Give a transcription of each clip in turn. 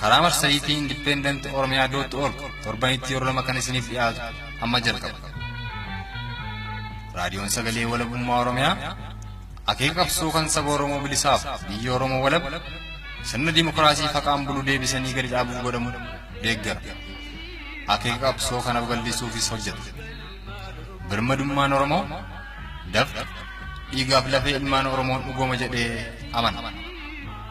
Karaa marsariitii independentoromia.org torbanitti yeroo lama kan isiniif dhiyaatu amma jalqaba. Raadiyoon Sagalee Walabummaa Oromiyaa akeeka qabsoo kan saba Oromoo bilisaaf biyya Oromoo walab sirna dimookiraasii faqaan bulu deebisanii gadi dhaabuuf godhamu deeggara. Akeeka qabsoo kana babal'isuufis hojjeta. Birmadummaan Oromoo dafqa dhiigaaf lafee ilmaan Oromoon dhugooma jedhee amana.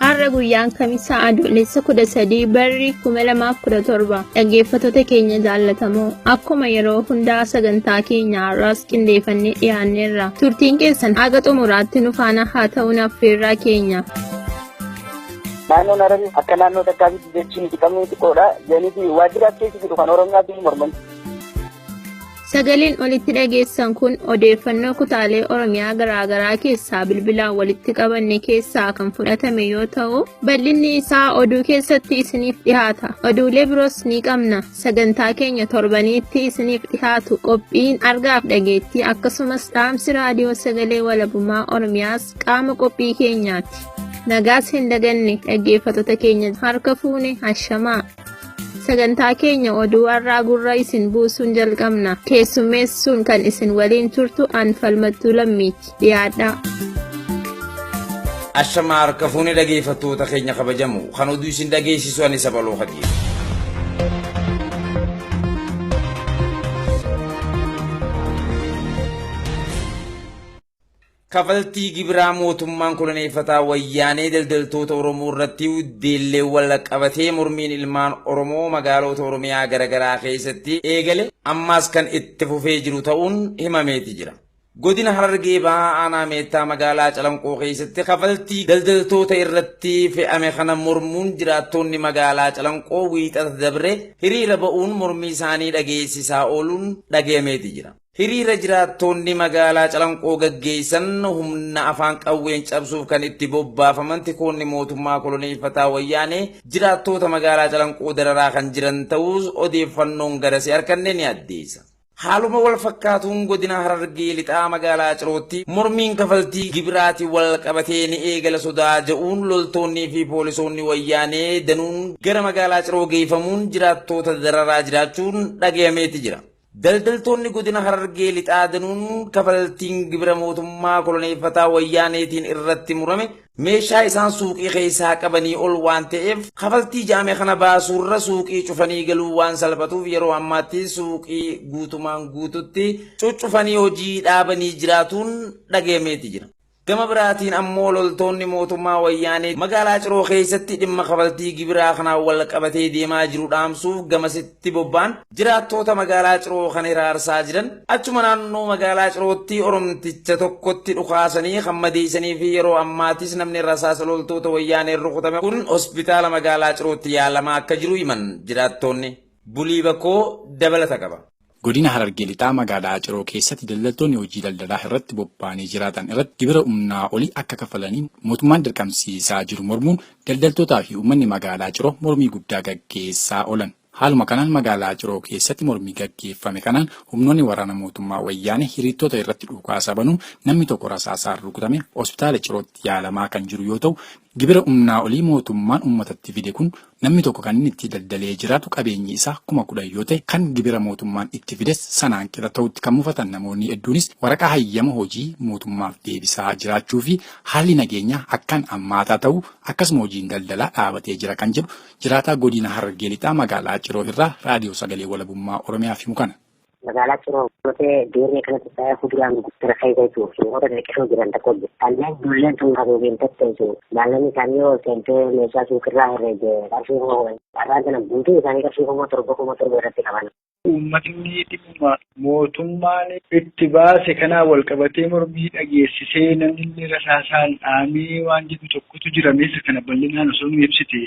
Har'a guyyaan kamisaa adoolessa 13 barri 2017 dhaggeeffattoota keenya jaallatamoo akkuma yeroo hundaa sagantaa keenya har'aas qindeeffannee dhiyaanneerra turtiin keessan haga xumuraatti nu faana haa ta'uun affeerraa keenya. Naannoon Hararii akka naannoo takkaafitti jechuun itti qabnuu xiqqoodha. Jeeniti waajjira keessa jiru kan Oromiyaa fi morman. Sagaleen olitti dhageessan kun odeeffannoo kutaalee Oromiyaa garaagaraa keessaa bilbilaan walitti qabanne keessaa kan fudhatame yoo ta'u, bal'inni isaa oduu keessatti isiniif dhihaata. Oduulee biroos ni qabna. Sagantaa keenya torbaniitti isiniif dhihaatu qophiin argaaf dhageettii akkasumas dhaamsi raadiyoo sagalee walabummaa Oromiyaas qaama qophii keenyaati. Nagaas hin daganne dhaggeeffattoota keenya harka fuune hashamaa. Sagantaa keenya oduu har'aa gurra isin buusuun jalqabna. Keessummeessuun kan isin waliin turtu an falmattuu lammiiti. Dhiyaadhaa. Ashamaa harka fuunee dhageeffattoota keenya kabajamu kan oduu isin dhageessisu ani sabaloo hadiidha. Kafaltii gibiraa mootummaan koloneeffataa Wayyaanee daldaltoota Oromoo irratti deelleen walqabatee mormiin ilmaan Oromoo magaaloota Oromiyaa garagaraa keessatti eegale ammaas kan itti fufee jiru ta'uun himameeti jira. Godina Harargee Bahaa Aanaa Meettaa magaalaa Calanqoo keessatti kafaltii daldaltoota irratti fe'ame kana mormuun jiraattoonni magaalaa Calanqoo Wiixata dabre hiriira ba'uun mormii isaanii dhageessisaa ooluun dhagayameeti jira. Hiriira jiraattoonni magaalaa Calanqoo gaggeessan humna afaan qawween cabsuuf kan itti bobbaafaman tikoonni mootummaa koloneeffataa Wayyaanee jiraattoota magaalaa Calanqoo dararaa kan jiran ta'uus odeeffannoon garasii arkanne ni addeessa. Haaluma wal fakkaatuun godina Harargee Lixaa magaalaa Cirootti mormiin kafaltii gibiraatiin wal qabatee ni eegala sodaa ja'uun loltoonnii fi poolisoonni Wayyaanee danuun gara magaalaa Ciroo geeffamuun jiraattoota dararaa jiraachuun dhagayameeti jira. Daldaltoonni Godina Harargee Lixaa danuun kafaltiin gibira mootummaa koloneeffataa Wayyaaneetiin irratti murame meeshaa isaan suuqii keessaa qabanii ol waan ta'eef kafaltii ja'ame kana baasuurra suuqii cufanii galuu waan salphatuuf yeroo ammaatti suuqii guutumaan guututti cuccufanii hojii dhaabanii jiraatuun dhagayameeti jira. Gama biraatiin ammoo loltoonni mootummaa Wayyaanee magaalaa Ciroo keessatti dhimma kafaltii gibiraa kanaan walqabatee deemaa jiru dhaamsuuf gamasitti bobba'an jiraattoota magaalaa Ciroo kan hiraarsaa jiran achuma naannoo magaalaa Cirootti Oromticha tokkotti dhukaasanii kan madeessanii fi yeroo ammaatis namni rasaasa loltoota Wayyaaneen rukutame kun hospitaala magaalaa Cirootti yaalamaa akka jiru himan jiraattoonni. Bulii Bakoo dabalata qaba. Godina Harargee Lixaa magaalaa Ciroo keessatti daldaltoonni hojii daldalaa irratti bobba'anii jiraatan irratti gibira humnaa olii akka kafalaniin mootummaan dirqamsiisaa jiru mormuun daldaltootaa fi uummanni magaalaa Ciroo mormii guddaa gaggeessaa oolan. Haaluma kanaan magaalaa Ciroo keessatti mormii gaggeeffame kanaan humnoonni waraana mootummaa Wayyaanee hiriirtoota irratti dhukaasa banuun namni tokko rasaasaan rukutame hospitaala Cirootti yaalamaa kan jiru yoo ta'u, gibira humnaa olii mootummaan uummatatti fide kun Namni tokko kan inni itti daldalee jiraatu qabeenyi isaa kuma kudhan yoo ta'e, kan gibira mootummaan itti fides sanaan qixa ta'utti kan mufatan namoonni hedduunis waraqaa hayyama hojii mootummaaf deebisaa jiraachuu fi haalli nageenyaa akkaan hammaataa ta'uu akkasuma hojiin daldalaa dhaabatee jira kan jedhu jiraataa Godina Harargee Lixaa magaalaa Ciroo irraa Raadiyoo Sagalee Walabummaa Oromiyaaf himu kana. Magaalaa Ciroo Gotee Deerree kanatti sa'a huduraan gurguddara keessa jiru himoota xixiqqoo jiran tokko jiru. Kanneen dulleen tun haguugeen tatteessu maallaqni isaanii yoo seentee meeshaa suuqirraa herreege qarshii kuma kudhan. Carraan sana guutuu isaanii qarshii kuma torba kuma torba irratti qaban. Uummatni dhimma mootummaan itti baase kanaan walqabatee mormii dhageessisee namnillee rasaasaan dhaamee waan jedhu tokkotu jira mee isa kana bal'inaan osoo nuu ibsitee.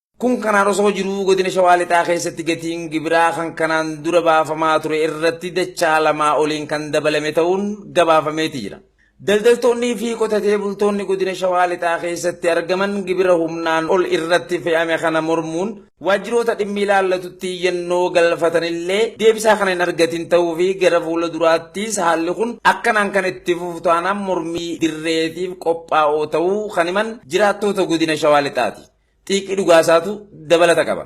Kun kanaan osoo jiruu godina Shawaa Lixaa keessatti gatiin gibiraa kan kanaan dura baafamaa ture irratti dachaa lamaa oliin kan dabalame ta'uun gabaafameeti jira. Daldaltoonnii fi qotatee bultoonni godina Shawaa Lixaa keessatti argaman gibira humnaan ol irratti fe'ame kana mormuun waajjiroota dhimmi ilaallatutti iyyannoo galfatanillee deebisaa kan hin argatin ta'uu fi gara fuula duraattis haalli kun akkanaan kan itti fufu taanaan mormii dirreetiif qophaa'oo ta'uu kan himan jiraattoota godina Shawaa Lixaati. Xiiqii dhugaasaatu dabalata qaba.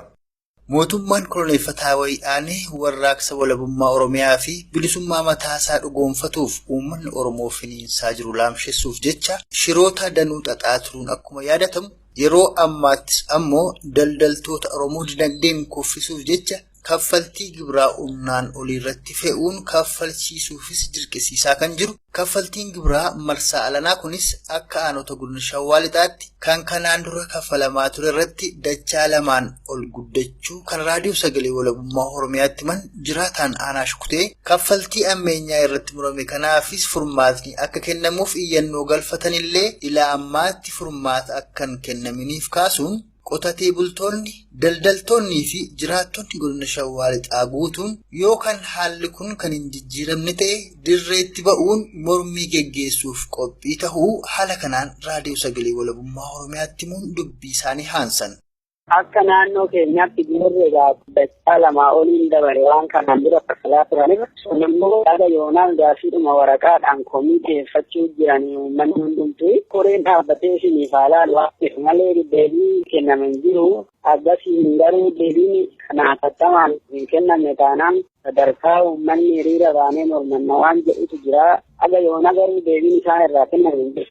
Mootummaan koloneeffataa Wayyaane warraaqsa walabummaa Oromiyaa fi bilisummaa mataasaa dhugoomfatuuf uummanni Oromoo finiinsaa jiru laamshessuuf jecha shiroota danuu xaxaa turuun akkuma yaadatamu, yeroo ammaattis ammoo daldaltoota Oromoo dinagdeen kuffisuuf jecha kaffaltii gibiraa humnaan oliirratti fe'uun kaffalchiisuufis dirqisiisaa kan jiru kaffaltiin gibiraa marsaa alanaa kunis akka aanota godina shawaa lixaatti kan kanaan dura kaffalamaa ture irratti dachaa lamaan ol guddachuu kan raadiyoo sagalee walabummaa oromiyaatti himan jiraataan aanaa shukutee kaffaltii ammeenyaa irratti murame kanaafis furmaatni akka kennamuuf iyyannoo galfatanillee ilaa ammaatti furmaata akkan kennaminiif kaasuun Qotatee bultoonni, daldaltoonnii fi jiraattonni godina Shawaa Lixaa guutuun yoo kan haalli kun kan hin jijjiiramne ta'e dirreetti ba'uun mormii geggeessuuf qophii ta'uu haala kanaan Raadiyoo Sagalee Walabummaa Oromiyaatti himuun dubbii isaanii haansan. Akka naannoo keenyaatti Boorri egaa Waggaa lamaa oliin dabale waan kanaan dura falaa turanirra sun immoo haga yoonaan gaaffiidhuma waraqaadhaan komii dhiyeeffachuu jiran uummanni hundumtuu koreen dhaabbatee isiniif haa laalu waan ta'eef malee deebii kenname hin jiru. Akkasiin garuu deebiin kana hatattamaan hin kennamne taanaan sadarkaa uummanni hiriira baanee mormanna waan jedhutu jira. Haga yoona garuu deebiin isaan irraa kenname hin jiru.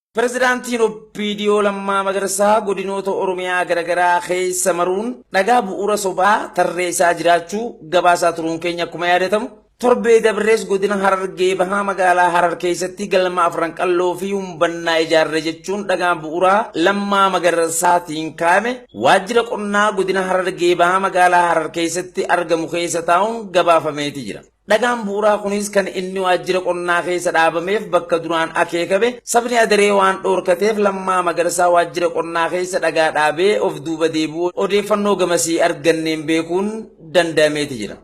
Pirezidaantiin OPDO Lammaa Magarsaa godinoota Oromiyaa garagaraa keessa maruun dhagaa bu'uura sobaa tarreessaa jiraachuu gabaasaa turuun keenya akkuma yaadatamu torbee dabrees godina Harargee bahaa magaalaa Harar keessatti galma afran qalloo fi humbannaa ijaarre jechuun dhagaan bu'uuraa Lammaa Magarsaatiin kaa'ame waajjira qonnaa godina Harargee bahaa magaalaa Harar keessatti argamu keessa taa'uun gabaafameeti jira. Dhagaan bu'uraa kunis kan inni waajjira qonnaa keessa dhaabameef bakka duraan akeekame sabni Adaree waan dhoorkateef Lammaa Magarsaa waajjira qonnaa keessa dhagaa dhaabee of duuba deebi'uu odeeffannoo gamasii arganneen beekuun danda'ameeti jira.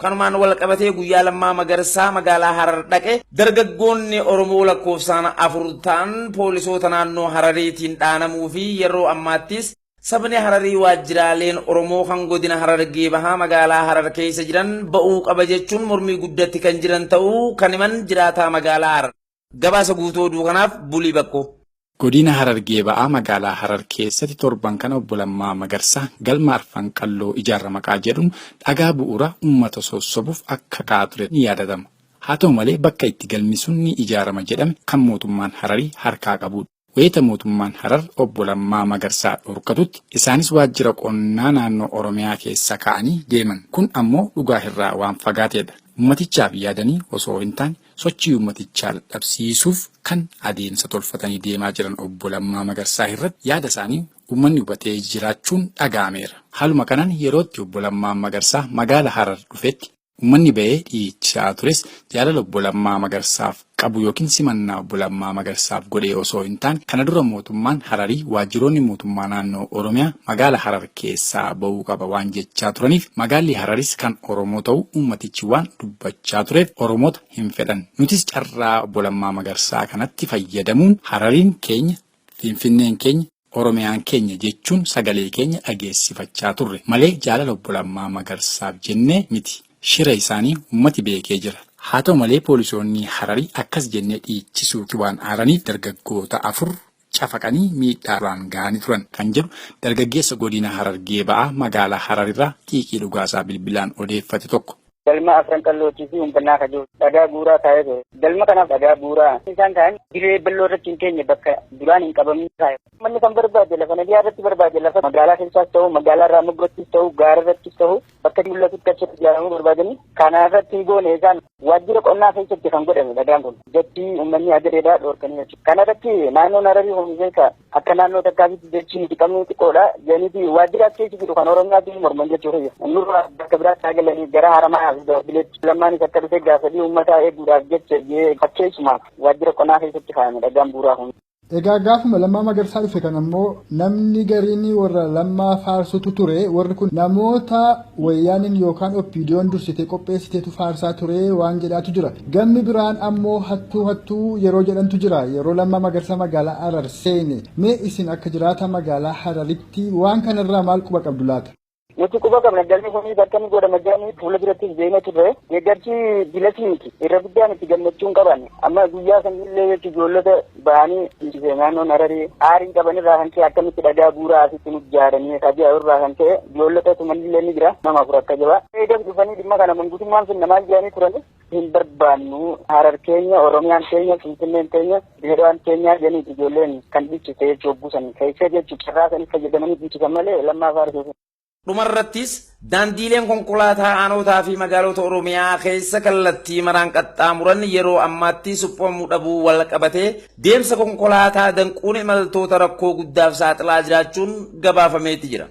Kanumaan walqabatee guyyaa Lammaa Magarsaa magaalaa Harar dhaqe dargaggoonni Oromoo lakkoofsaan afur ta'an poolisoota naannoo Harariitiin dhaanamuu fi yeroo ammaattis Sabni Hararii waajjiraaleen Oromoo kan godina Harargee Bahaa magaalaa Harar keessa jiran ba'uu qaba jechuun mormii guddatti kan jiran ta'uu kan himan jiraataa magaalaa Harar. Gabaasa guutuu oduu kanaaf Bulii Bakkoo. Godina Harargee Ba'aa magaalaa Harar keessatti torban kana obbo Lammaa Magarsaa galma Arfan Qalloo ijaarra maqaa jedhuun dhagaa bu'uura uummata sossobuuf akka ka'aa ture ni yaadatama. Haa ta'u malee bakka itti galmi sun ni ijaarama jedhame kan mootummaan Hararii harkaa qabudha. Wayita mootummaan Harar Obbo Lammaa Magarsaa dhorkatutti isaanis waajjira qonnaa naannoo Oromiyaa keessa kaa'anii deeman. Kun ammoo dhugaa irraa waan fagaateedha. Ummatichaaf yaadanii osoo hintaane sochii ummatichaa dadhabsiisuuf kan adeemsa tolfatanii deemaa jiran Obbo Lammaa Magarsaa irratti yaada isaanii ummanni hubatee jiraachuun dhaga'ameera. Haaluma kanaan yeroo itti Obbo Lammaan Magarsaa magaala Harar dhufetti, Ummanni ba'ee dhiichisaa tures jaalala obbo Lammaa Magarsaaf qabu ykn simannaa obbo Lammaa Magarsaaf godhee osoo hin taane kana dura mootummaan Hararii waajjiroonni mootummaa naannoo Oromiyaa magaala Harar keessaa ba'uu qaba waan jechaa turaniif magaalli Hararis kan Oromoo ta'uu ummatichi waan dubbachaa tureef Oromoota hin fedhan. Nutis carraa obbo Lammaa Magarsaa kanatti fayyadamuun Harariin keenya, Finfinneen keenya, Oromiyaan keenya jechuun sagalee keenya dhageessifachaa turre malee jaalala Obbo Lammaa Magarsaaf jennee miti. Shira isaanii ummati beekee jira. Haa ta'u malee poolisoonni Hararii akkas jennee dhiichisuuti waan aaraniif dargaggoota afur cafaqanii miidhaa irraan gahanii turan, kan jedhu dargaggeessa Godina Harargee Ba'aa magaalaa Hararirraa xiiqii dhugaasaa bilbilaan odeeffate tokko. galma afran qallootii fi humbannaa ka jiru dhagaa buuraa kaa'ee ture. Galma kanaaf dhagaa buuraa isaan kaa'an dirree balloo irratti hin keenye bakka duraan hin qabamne kaa'e. Manni kan barbaade lafa nadiyaa irratti barbaade lafa magaalaa keessaas ta'u magaalaa irraa moggattis ta'u gaara irrattis ta'u bakka mul'atutti achi ijaaramuu barbaadanii kana irratti hin goone isaan waajjira qonnaa keessatti kan godhame dhagaan kun jechi uummanni hagareedhaa dhoorkanii jechuudha. Kana irratti naannoon Hararii Homiseekaa Akka naannoo takkaatitti jechi nuti qabnu xiqqoodha. Janiiti waajjira as keessa jiru kan Oromiyaatti morman jechuu kiyya. Nurraa bakka biraatti haa galanii gara Haramayaa fi Baabbileetti. Lammaanis akka dhufe gaafadhii uummataa eeguudhaaf jecha jee fakkeessumaaf waajjira qonnaa keessatti kaa'ame dhagaan buuraa kun. Egaa gaafuma lammaa magarsaa dhufe kan ammoo namni gariin warra lammaa faarsutu ture warri kun namoota Wayyaaneen yookaan OPDOn dursitee qopheessiteetu faarsaa ture waan jedhaatu jira. Gammi biraan ammoo hattuu hattuu yeroo jedhantu jira. Yeroo Lammaa Magarsaa magaalaa Harar seene. Mee isin akka jiraataa magaalaa Hararitti waan kanarraa maal quba qabdu laata? Nuti quba qabna galmi kun bakka inni godhama jedhanii fuula durattis beekna turre deeggarsi bilasii miti irra guddaan itti gammachuun qaban amma guyyaa sanillee jechuun ijoollota bahanii nuti kee naannoon hararii aarii qaban irraa kan ka'e akkamitti dhagaa buuraa asitti nu jaaranii kaji'a irraa kan ka'e ijoollota tumanillee ni jira nama afur akka jabaa eegas dhufanii dhimma kana mangutummaan finna maal jedhanii turani hin barbaannu harar keenya oromiyaan keenya finfinneen keenya dirrewaan keenyaa jedhanii ijoolleen kan dhiichise jechuu obbusan keessee jechuu carraa sanii fayyadamanii dhiichisan malee lammaa faarsuuf Dhumarrattis, daandiileen konkolaataa aanootaa fi magaalota Oromiyaa keessa kallattii maraan qaxxaamuran yeroo ammaatti suphamuu dhabuu walqabatee deemsa konkolaataa danquun imaltoota rakkoo guddaaf saaxilaa jiraachuun gabaafameeti jira.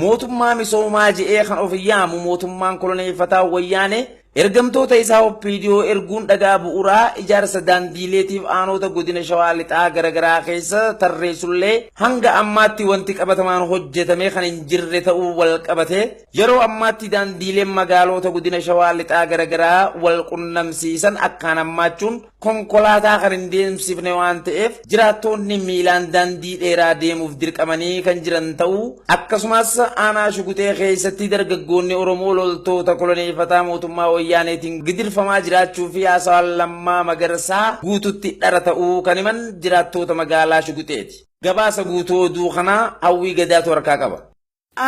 Mootummaa misoomaa je'ee kan of yaamu mootummaan koloneeffataa Wayyaanee Ergamtoota isaa OPDO erguun dhagaa bu'uraa ijaarsa daandiileetiif aanoota godina Shawaa Lixaa garagaraa keessa tarreessullee hanga ammaatti wanti qabatamaan hojjetamee kan hin jirre ta'uu wal qabatee yeroo ammaatti daandiileen magaaloota godina Shawaa Lixaa garagaraa wal qunnamsiisan akkaan hammaachuun Konkolaataa kan hin deemsifne waan ta'eef jiraattoonni miilaan daandii dheeraa deemuuf dirqamanii kan jiran ta'uu akkasumas aanaa Shugutee keessatti dargaggoonni Oromoo loltoota koloneeffataa mootummaa Wayyaaneetiin gidirfamaa jiraachuu fi haasawaan Lammaa Magarsaa guututti dhara ta'uu kan himan jiraattoota magaalaa Shuguteeti. Gabaasa guutuu oduu kanaa Hawwii Gadaatu harkaa qaba.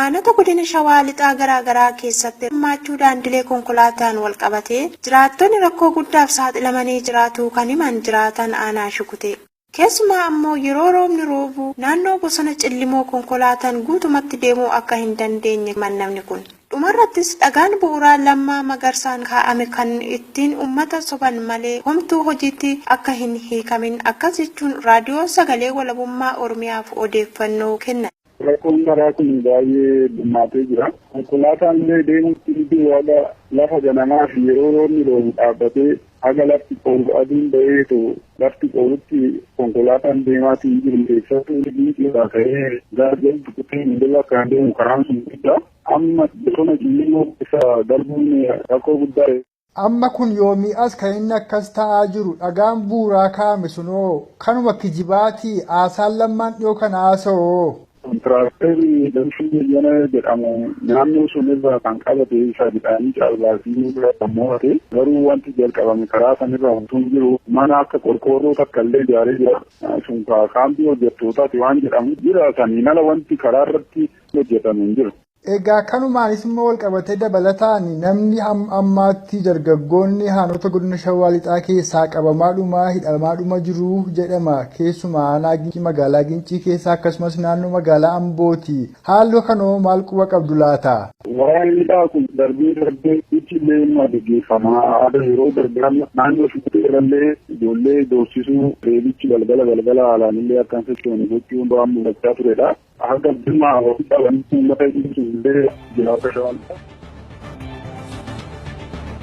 Aanota godina Shawaa Lixaa garaa garaa keessatti hammaachuu daandilee konkolaataan walqabatee jiraattonni rakkoo guddaaf saaxilamanii jiraatuu kan himan jiraataan aanaa Shukutee, keessumaa ammoo yeroo roobni roobu naannoo bosona Cillimoo konkolaataan guutumatti deemuu akka hin dandeenye himan namni kun. Dhumarrattis dhagaan bu'uraa Lammaa Magarsaan kaa'ame kan ittiin ummata soban malee homtuu hojiitti akka hin hiikamin akkas jechuun Raadiyoo Sagalee Walabummaa Oromiyaaf odeeffannoo kennan. Rakkoon karaa kun baay'ee dhummaatee jira. Konkolaataan illee deemutti ni duwwaadha. Lafa ganamaa fi yeroo roobni roobu dhaabbatee haga lafti qoolu aduun baheetu lafti qoolutti konkolaataan deemaatii hin jiru. Keessattuu Ginciirraa ka'ee gara Jaldu Kutee Miidila kan deemu karaan sun guddaa. Amma bosona Cimmimoo keessa darbuun rakkoo guddaa. Amma kun yoomii as kan inni akkas ta'aa jiru? Dhagaan bu'uuraa kaa'ame sun hoo kanuma kijibaatii? Haasaan Lammaan dhiyoo kana haasa'u hoo? Kontiraaktarri Damshuu Bayyanaa jedhamu naannoo sun irraa kan qabate isa midhaanii caalbaasii irraa kan mo'ate. Garuu wanti jalqabame karaa san irra utuu hin jiru mana akka qorqoorroo takka illee ijaaree jira. Sun kaampii hojjettootaati waan jedhamu jira. Saniin ala wanti karaa irratti hojjetame hin jiru. Egaa kanumaanis immoo walqabatee dabalataan namni hamma ammaatti dargaggoonni haanota godina Shawaa Lixaa keessaa qabamaadhuma hidhamaadhuma jiru jedhama. Keessumaa aanaa Gincii magaalaa Gincii keessa akkasumas naannoo magaalaa Ambooti. Haalli kanoo maal quba qabdu laata? Waa'een hidhaa kun darbee darbee Gujiillee immoo gaggeeffama. Aadaa yeroo darbee amma naannoo Shukkutee irrallee ijoollee doorsisuu reebichi galgala galgala haalaan illee akka hin sochoone gochuun waan mul'achaa turedha. Haga dhimma ofitti amantii uummata ibsu illee jiraachuu danda'u.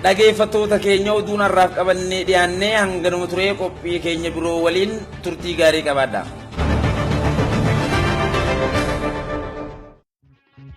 Dhageeffattoota keenya oduun har'aaf qabannee dhiyaannee hanganuma turee qophii keenya biroo waliin turtii gaarii qabaadha.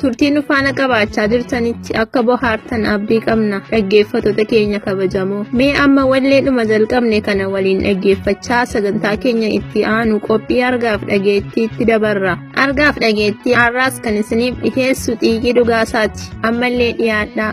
Turtii nu faana qabaachaa jirtanitti akka bohaartan abdii qabna dhaggeeffattoota keenya kabajamoo. Mee amma walleedhuma jalqabne kana waliin dhaggeeffachaa sagantaa keenya itti aanu qophii argaaf dhageettiitti dabarra. Argaaf dhageettii har'aas kan isiniif dhiheessu xiiqii dhugaasaati. Ammallee dhiyaadhaa.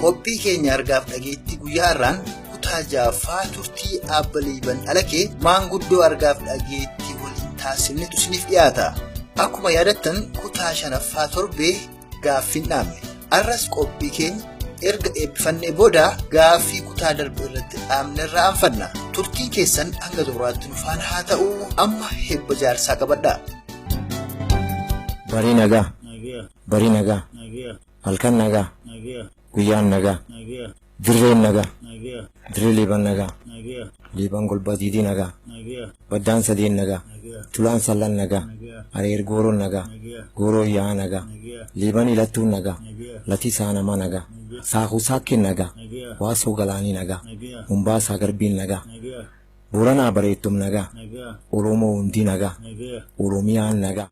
Qophii keenya argaaf dhageettii guyyaa irraan kutaa jaaffaa turtii aabba liiban alakee maanguddoo argaaf dhageettii waliin taasifnetu isiniif dhiyaata. Akkuma yaadattan kutaa shanaffaa torbee gaaffiin dhaabne. Arras qophii keenya erga eebbifannee booda gaaffii kutaa darbe irratti dhaabne irraa aanfanna. Turtiin keessan hanga xumuraatti nu faana haa ta'u amma eebba jaarsaa qabadhaa. Barii nagaa. Barii nagaa. Halkan nagaa. Guyyaan nagaa. Dirreen nagaa. Dirree Liiban nagaa. Liiban golbaa diidii nagaa. Baddaan sadeen nagaa. Tulaan sallan nagaa. Areer gooroon nagaa. Gooroo yaa'aa nagaa. Liiban ilattuun nagaa. Latii saanamaa nagaa. Saakuu saakkeen nagaa. Waasoo galaanii nagaa. Mombaasaa garbiin nagaa. Booranaa bareettum nagaa. Oromoo hundii nagaa. Oromiyaan nagaa.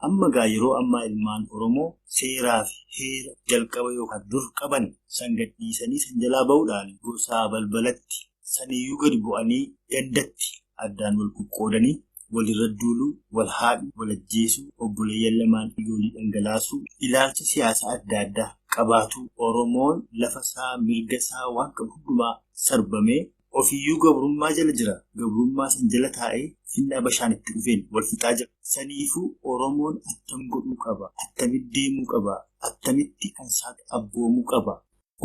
Amma gaa yeroo ammaa ilmaan Oromoo seeraa fi heera jalqaba yookaan dur qaban san gadhiisanii san jalaa ba'uudhaan gosaa balbalatti saniyyuu gadi bu'anii gandatti addaan wal qoqqoodanii walirra duuluu, wal haadhuu, wal ajjeesuu, obboleeyyan lamaan dhiigoolii dhangalaasuu, ilaalcha siyaasa adda addaa qabaatuu Oromoon lafa isaa, mirga isaa waan qabu hundumaa sarbamee Ofiyyuu gabrummaa jala jira. Gabrummaa san jala taa'ee finna Abashaan itti dhufeen wal fixaa jira. Saniifuu Oromoon attam godhuu qaba? Attamitti deemuu qaba? Attamitti kan isaatti abboomuu qaba?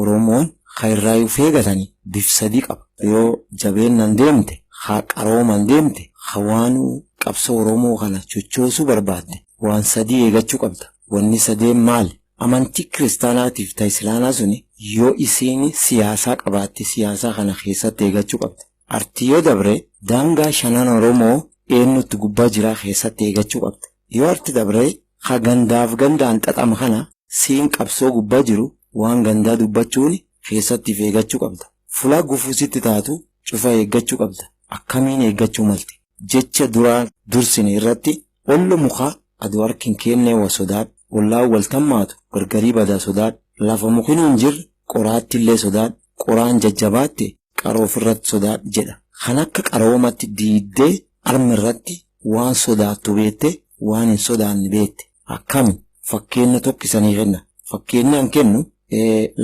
Oromoon ka irraa uf eegatani bif sadii qaba. Yoo jabeennan deemte, ka qarooman deemte, ka waanuu qabsoo Oromoo kana chochoosuu barbaadde waan sadii eegachuu qabda. Wanni sadeen maali? Amantii kiristaanaatiif ta islaanaa suni yo isiini siyaasaa qabaatte siyaasaa kana keessatti eegachu qabdi. Arti yo dabre daangaa shanan oromoo eennutti gubbaa jiraa keessatti eegachu qabdi. Yo arti dabre ka gandaaf gandaan xaxama kana siin qabsoo gubbaa jiru waan gandaa dubbachuuni keessatti if eegachu qabda. Fulaa gufuu sitti taatu cufa eeggachu qabda. Akkamiin eeggachuu malti? Jecha duraan dursine irratti Ollo muka ado hark hin keennee wa sodaadh ollaan wal tammaatu gargarii bada sodaadh lafa mukinuu hin jirre qoraattillee sodaadh qoraan jajjabaatte qaroo firratt sodaadh jedha kan akka qaroomatt diiddee arm irratti waan sodaattu beette waan hin sodaanne beette akkami fakkeenna tokk isanii kenna fakkeenni an kennu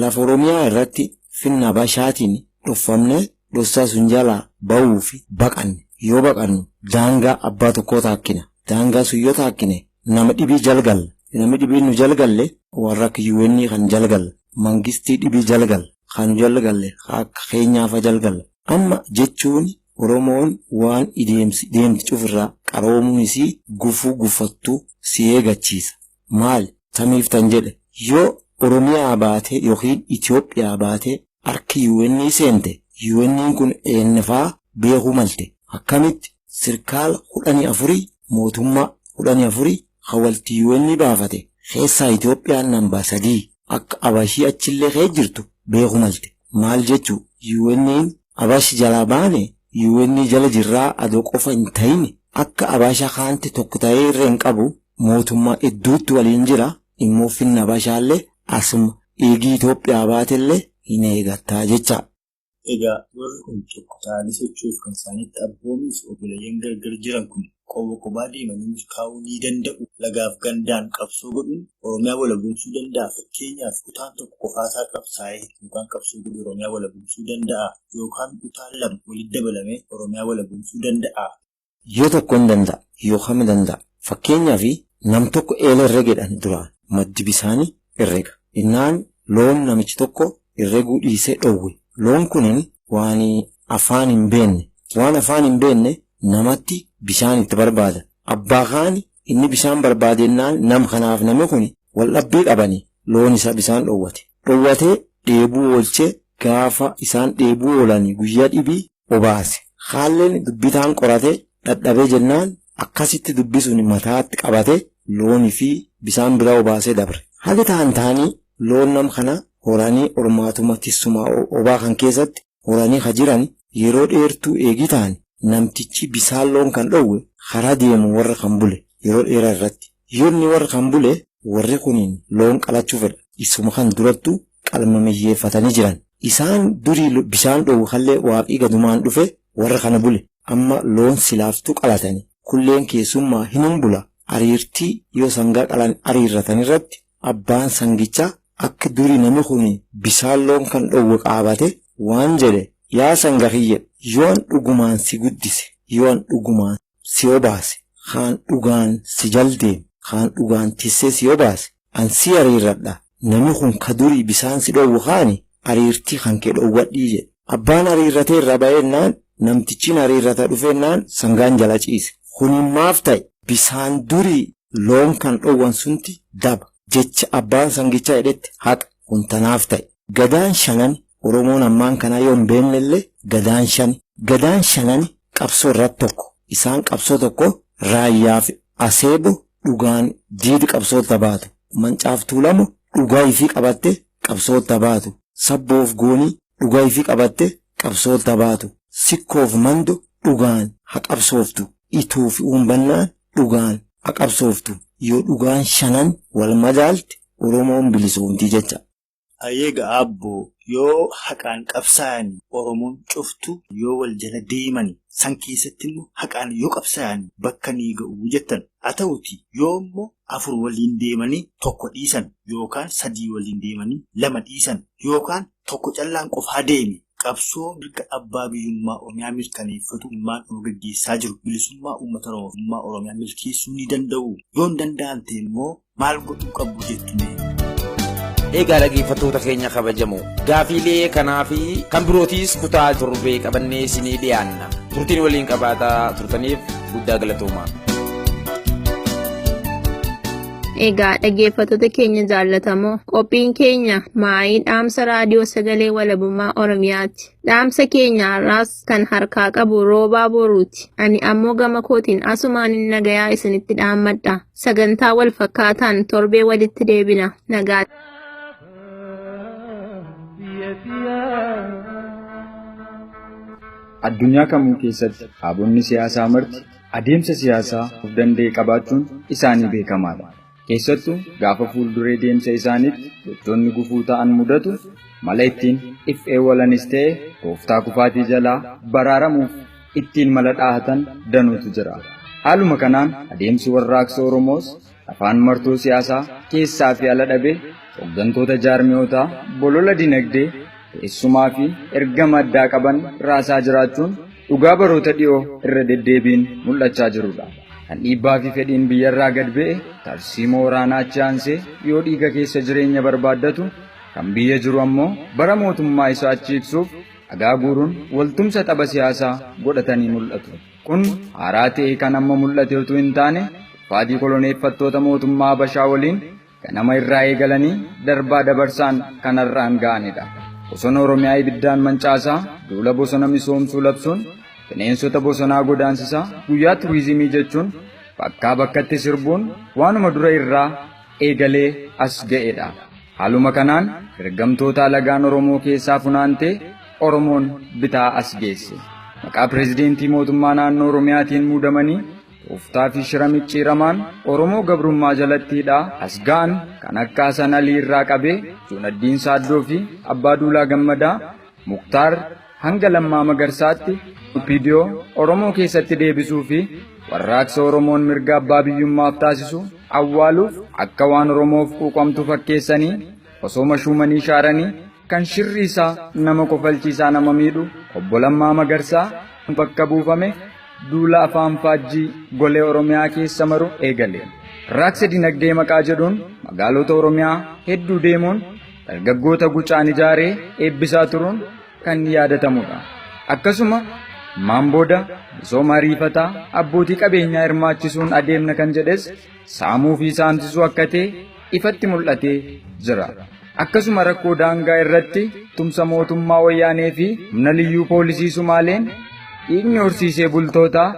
lafa oromiyaa irratti finna bashaatiin dhoffamnee dhossaa sun jalaa ba'uu fi baqanne. Yoo baqannu daangaa abbaa tokkoo taakkina. Daangaa sun yoo taakkine nama dhibii jal galla. Nami dhibiin nu jal galle warra akka UN kan jal galla. Mangistii dhibii jal galla. Kan nu jal galle kan akka Keenyaa fa jal galla. Amma jechuun Oromoon waan ideemsi deemti cufirraa qaroomuun isii gufuu gufattu si eegachiisa. maal tamiif tan jedhe yoo Oromiyaa baatee yookiin Itoophiyaa baatee harka UN seente UN kun eennfaa beekuu malte akkamitti sirkaala kudhanii afurii mootummaa kudhanii afurii ka walti UN baafate keessaa Itoophiyaan nambaa sadii akka abashii achillee kee jirtu beekuu malte maal jechuu UN abash jalaa baane UN jala jirraa adoo qofa hin tahin akka abasha kaanti tokko tahee irra hin qabu mootummaa idduutti waliin jira immoo finna bashaalle asuma dhiigii Itoophiyaa baatelle hin eegattaa jecha. Egaa warri kun tokko ta'anii socho'uuf kan isaanitti abboomees oboleeyyan gargar jiran kun qoba qobaa deemanii milkaa'uu ni danda'u lagaaf gandaan qabsoo godhuun Oromiyaa walabomsuu danda'a fakkeenyaaf kutaan tokko qofaasaa qabsaa'ee yookaan qabsoo godhee Oromiyaa walabomsuu danda'aa yookaan kutaan lama walitti dabalamee Oromiyaa walabomsuu danda'aa Yoo tokko hin danda'a yookam danda'a. Fakkeenyaaf nam tokko eela herregeedhan duraan maddi bisaani herrega. Innaan loon namichi tokko herreguu dhiisee dhowwe. Loon kunin waan afaan hin beenne. Waan afaan hin beenne namatti bisaan itti barbaada. Abbaa kaani inni bisaan barbaade ennaan nam kanaaf nami kuni wal dhabbii qabani loon isaa bisaan dhowwate. Dhowwatee dheebuu oolchee gaafa isaan dheebuu oolani guyyaa dhibii obaase. Kaalleen dubbii taan qorate dhadhabee jennaan akkasitti dubbii suni mataatti qabate looni fi bisaan bira obaasee dabre. Hagi taan taani loon nam kana horanii ormaatuma tissuma obaa kan keessatti horanii ka jirani yeroo dheertuu eegii taani namtichi bisaan loon kan dhowwe karaa deemu warra kan bule yeroo dheeraa irratti. Yoo inni warra kan bule, warri kun loon qalachuu fedha. Isuma kan durattu qalmamiyyeeffatanii jiran. Isaan durii bishaan dhoowwe kanlee Waaqii gadumaan dhufe warra kana bule. Amma loon silaaftuu qalatani. Kulleen keessummaa hinum bula. Ariirtii yoo sangaa qalan ariirratan irratti abbaan sangichaa akka durii nami kun bishaan loon kan dhoowwe qaabate waan jedhe, Yaa sanga kiyya, yoo an dhugumaan si guddise, yoo an dhugumaan. si obaase, kaan dhugaan si jal deem, kaan dhugaan tissee si obaase, an si ariirradha, nami kun ka durii bisaan si dhoowwu kaani ariirtii kankee dhoowwadhii jedhe. Abbaan ariirratee irraa bayeennaan, namtichiin ariirrata dhufeennaan sangaan jala ciise. Kuniin maaf taye? Bisaan durii loon kan dhoowwan sunti daba, jecha abbaan sangichaa jedhetti haqa, kun tanaaf taye. Gadaan shanani Oromoon ammaan kanaa yoo hin beekne illee Gadaan shan. Gadaan shanan qabsoo irratti tokko. Isaan qabsoo tokko Raayyaa fi Aseebo dhugaan diidi qabsootta baatu. Mancaaf Tuulamo dhugaa ifii qabatte qabsootta baatu. Sabboo fi Goonii dhugaa ifii qabatte qabsootta baatu. Sikkoo fi Mando dhugaan ha qabsooftu. Ituu fi Uumbannaan dhugaan ha qabsooftu. Yoo dhugaan shanan wal madaalte Oromoon bilisoomti jecha. Hayyee egaa Aabbo yoo haqaan qabsaayani Oromoon cuftu yoo wal jala deemani san keessatti immo haqaan yoo qabsaayani bakka ni ga'u jettan. Haa ta'uti yoo immo afur waliin deemani tokko dhiisan yookaan sadii waliin deemani lama dhiisan yookaan tokko callaan qofaa deeme qabsoo mirga abbaa biyyummaa Oromiyaa mirkaneeffatu ilmaan Oromoo gaggeessaa jiru bilisummaa uummata Oromoof ummaa Oromiyaa milkeessuu ni danda'uu? Yoo hin danda'an ta'e immoo maal godhuu qabbu jettu mee? Egaa dhaggeeffattoota keenya kabajamoo gaafiilee kanaa fi kan birootiis kutaa torbee qabannee isinii dhiyaanna. Turtiin waliin qabaataa turtaniif guddaa galatoomaa. Egaa dhaggeeffattoota keenya jaallatamoo qophiin keenya maayii dhaamsa raadiyoo sagalee walabummaa Oromiyaati. Dhaamsa keenya har'aas kan harkaa qabu roobaa boruuti. Ani ammoo gama kootiin asumaan nagayaa isinitti dhaammadha. Sagantaa wal fakkaataan torbee walitti deebina. Nagaa. Addunyaa kamuu keessatti dhaabonni siyaasaa marti adeemsa siyaasaa of danda'e qabaachuun isaanii beekamaadha. Keessattuu gaafa fuulduree deemsa isaaniitti gochoonni gufuu ta'an mudatu mala ittiin if eewwalanis ta'e tooftaa kufaatii jalaa baraaramuuf ittiin mala dhaahatan danuutu jira. Haaluma kanaan adeemsi warraaqsa Oromoos afaan martoo siyaasaa keessaa fi ala dhabee hoggantoota jaarmiyootaa bolola dinagdee teessumaa fi ergama addaa qaban raasaa jiraachuun dhugaa baroota dhiyoo irra deddeebiin mul'achaa jirudha. Kan dhiibbaa fi fedhiin biyyarraa gad ba'e tarsiimoo waraanaa achi aansee yoo dhiiga keessa jireenya barbaaddatu kan biyya jiru ammoo bara mootummaa isaa achi ibsuuf dhagaa guuruun waltumsa tapha siyaasaa godhatanii mul'atu. Kun haaraa ta'ee kan amma mul'ate utuu hin taane kufaatii koloneeffattoota mootummaa Habashaa waliin ganama irraa eegalanii darbaa dabarsaan kan har'aan ga'anidha. Bosona Oromiyaa ibiddaan mancaasaa duula bosona misoomsuu labsuun bineensota bosonaa godaansisaa guyyaa turizimii jechuun bakkaa bakkatti sirbuun waanuma dura irraa eegalee as ga'e dha. Haaluma kanaan ergamtoota alagaan Oromoo keessaa funaantee Oromoon bitaa as geesse. Maqaa pireezidentii mootummaa naannoo Oromiyaatiin muudamanii tooftaa fi shira micciiramaan Oromoo gabrummaa jalatti hidhaa as ga'an kan akka Hasan Alii irraa qabee Juunaddiin Saaddoo fi Abbaa Duulaa Gammadaa Muktaar hanga Lammaa Magarsaatti Opidiyoo Oromoo keessatti deebisuu fi warraaqsa Oromoon mirga abbaa biyyummaaf taasisu awwaaluuf akka waan Oromoof quuqamtu fakkeessanii osoo mashuumanii shaaranii kan shirri isaa nama kofalchiisaa nama miidhu obbo Lammaa Magarsaa bakka buufame duula afaan faajjii golee Oromiyaa keessa maru eegale. Raaksa dinagdee maqaa jedhuun magaalota Oromiyaa hedduu deemuun dargaggoota gucaan ijaaree eebbisaa turuun kan yaadatamudha. Akkasuma maan booda misooma ariifataa abbootii qabeenyaa hirmaachisuun adeemna kan jedhes saamuu fi saamsisuu akka ta'e ifatti mul'atee jira. Akkasuma rakkoo daangaa irratti tumsa mootummaa wayyaanee fi humna liyyuu poolisii Sumaaleen dhiigni horsiisee bultootaa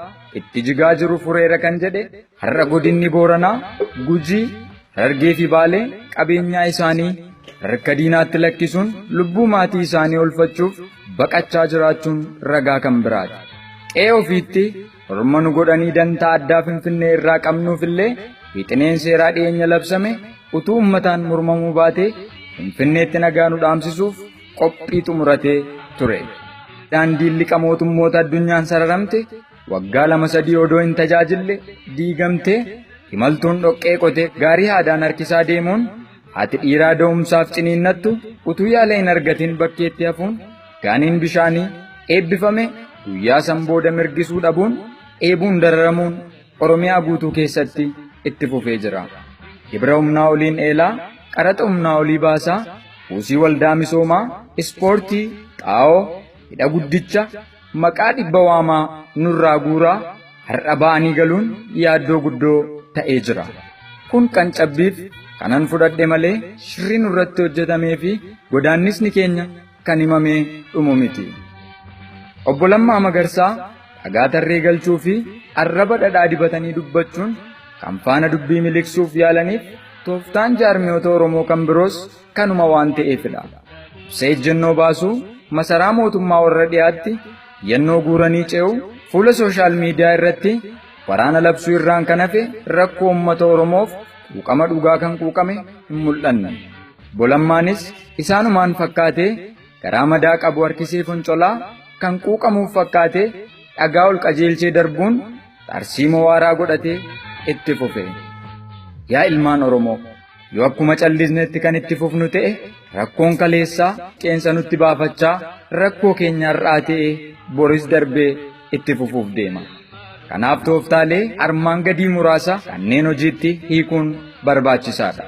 itti jigaa jiru fureera kan jedhe Har'a godinni Booranaa, Gujii, Harargee fi Baalee qabeenyaa isaanii harka diinaatti lakkisuun lubbuu maatii isaanii oolfachuuf baqachaa jiraachuun ragaa kan biraati. Qe'ee ofiitti orma nu godhanii dantaa addaa Finfinnee irraa qabnuuf illee wixineen seeraa dhiyeenya labsame utuu ummataan mormamuu baatee Finfinneetti nagaa nu dhaamsisuuf qophii xumuratee ture. Daandiin liqa mootummoota addunyaan sararamte Waggaa lama sadii odoo hin tajaajille diigamtee imaltuun dhoqqee qote gaarii haadaan harkisaa deemuun haati dhiiraa da'umsaaf ciniinnattu utuu yaala hin argatin bakkeetti hafuun gaaniin bishaanii eebbifame guyyaa san booda mirgisuu dhabuun dheebuun dararamuun Oromiyaa guutuu keessatti itti fufee jira. Gibira humnaa oliin eelaa, qaraxa humnaa olii baasaa, buusii waldaa misoomaa, ispoortii, xaa'oo, hidha guddicha, Maqaa dhibba waamaa nurraa guuraa har'a ba'anii galuun yaaddoo guddoo ta'ee jira. Kun kan cabbiif kanan fudhadhe malee shirri nurratti hojjetamee fi godaannisni keenya kan himamee dhumu miti. Obbo Lammaa Magarsaa dhagaa tarree galchuu fi arraba dhadhaa dibatanii dubbachuun kan faana dubbii miliqsuuf yaalaniif tooftaan jaarmiyoota Oromoo kan biroos kanuma waan ta'eefidha. Dursa ejjennoo baasuu masaraa mootummaa warra dhiyaatti yannoo guuranii ce'u fuula sooshaal miidiyaa irratti waraana labsuu irraan kan hafe rakkoo uummata Oromoof quuqama dhugaa kan quuqame hin mul'anne. Bolammaanis isaanumaan fakkaatee garaa madaa qabu harkisee foncolaa kan quuqamuuf fakkaatee dhagaa ol qajeelchee darbuun tarsiimoo waaraa godhatee itti fufe. Yaa ilmaan Oromoo! Yoo akkuma callisnetti kan itti fufnu ta'e rakkoon kaleessaa qeensa nutti baafachaa rakkoo keenya har'aa ta'e boris darbee itti fufuuf deema. Kanaaf tooftaalee armaan gadii muraasa kanneen hojiitti hiikuun barbaachisaadha.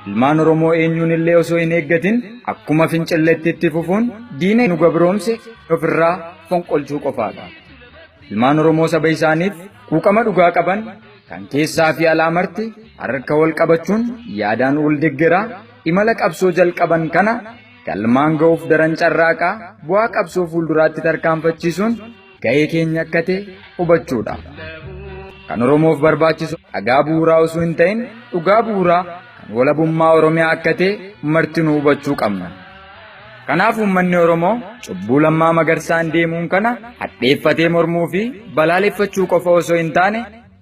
Ilmaan Oromoo eenyuun illee osoo hin eeggatin akkuma fincilletti itti fufuun diina nu gabroomse ofirraa fonqolchuu qofaadha. Ilmaan Oromoo saba isaaniif quuqama dhugaa qaban Kan keessaa fi alaa marti harka wal qabachuun yaadaan wal deggeraa imala qabsoo jalqaban kana galmaan ga'uuf daran carraaqaa bu'aa qabsoo fuulduraatti tarkaanfachiisuun ga'ee keenya akka ta'e hubachuudha. Kan Oromoof barbaachisu dhagaa bu'uuraa osoo hin ta'in dhugaa bu'uuraa kan walabummaa Oromiyaa akka ta'e martinuu hubachuu qabna. Kanaaf uummanni Oromoo cubbuu lammaa magarsaan deemuun kana hadheeffatee mormuu fi balaaleffachuu qofa osoo hin taane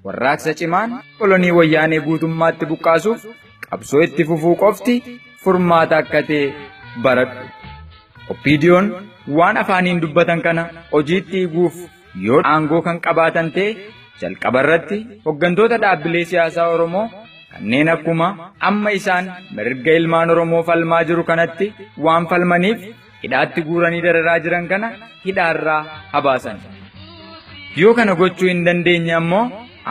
warraaqsa cimaan kolonii wayyaanee guutummaatti buqqaasuuf qabsoo itti fufuu qofti furmaata akka ta'e baradhu. Oppiidiyoon waan afaaniin dubbatan kana hojiitti hiikuuf Yoo aangoo kan qabaatan ta'e jalqaba irratti hoggantoota dhaabbilee siyaasaa Oromoo kanneen akkuma amma isaan mirga ilmaan Oromoo falmaa jiru kanatti waan falmaniif hidhaatti guuranii dararaa jiran kana hidhaarraa habaasan. Yoo kana gochuu hin dandeenye ammoo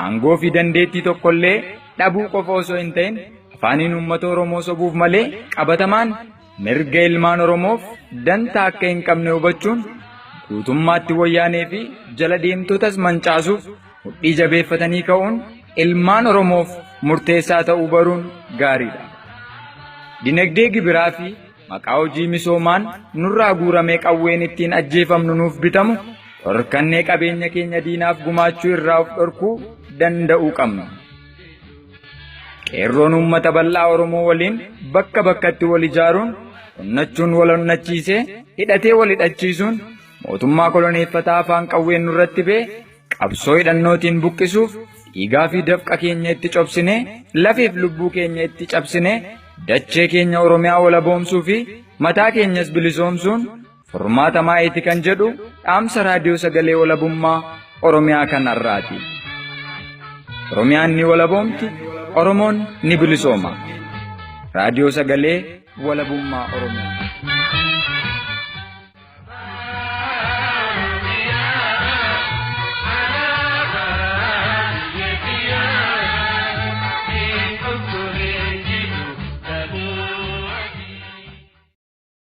aangoo fi dandeettii tokkollee dhabuu qofa osoo hin ta'in afaaniin uummata Oromoo sobuuf malee qabatamaan Mirga ilmaan Oromoof dantaa akka hin qabne hubachuun guutummaatti wayyaanee fi jala deemtotas mancaasuuf mudhii jabeeffatanii ka'uun ilmaan Oromoof murteessaa ta'uu baruun gaariidha. Dinagdee gibiraa fi maqaa hojii misoomaan nurraa guuramee qawween ittiin ajjeefamnu nuuf bitamu dhorkannee qabeenya keenya diinaaf gumaachuu irraa of dhorkuu danda'uu qabna. Qeerroon uummata bal'aa Oromoo waliin bakka bakkatti wal ijaaruun onnachuun wal onnachiisee hidhatee wal hidhachiisuun mootummaa koloneeffataa afaan qawween nurratti bee qabsoo hidhannootiin buqqisuuf dhiigaa fi dafqa keenya itti cobsinee lafiif lubbuu keenya itti cabsinee dachee keenya Oromiyaa walaboomsuu fi mataa keenyas bilisoomsuun Furmaata maayiti kan jedhu dhaamsa raadiyoo sagalee walabummaa Oromiyaa kan har'aati. Oromiyaan ni walaboomti, Oromoon ni bilisooma. Raadiyoo sagalee walabummaa Oromiyaa.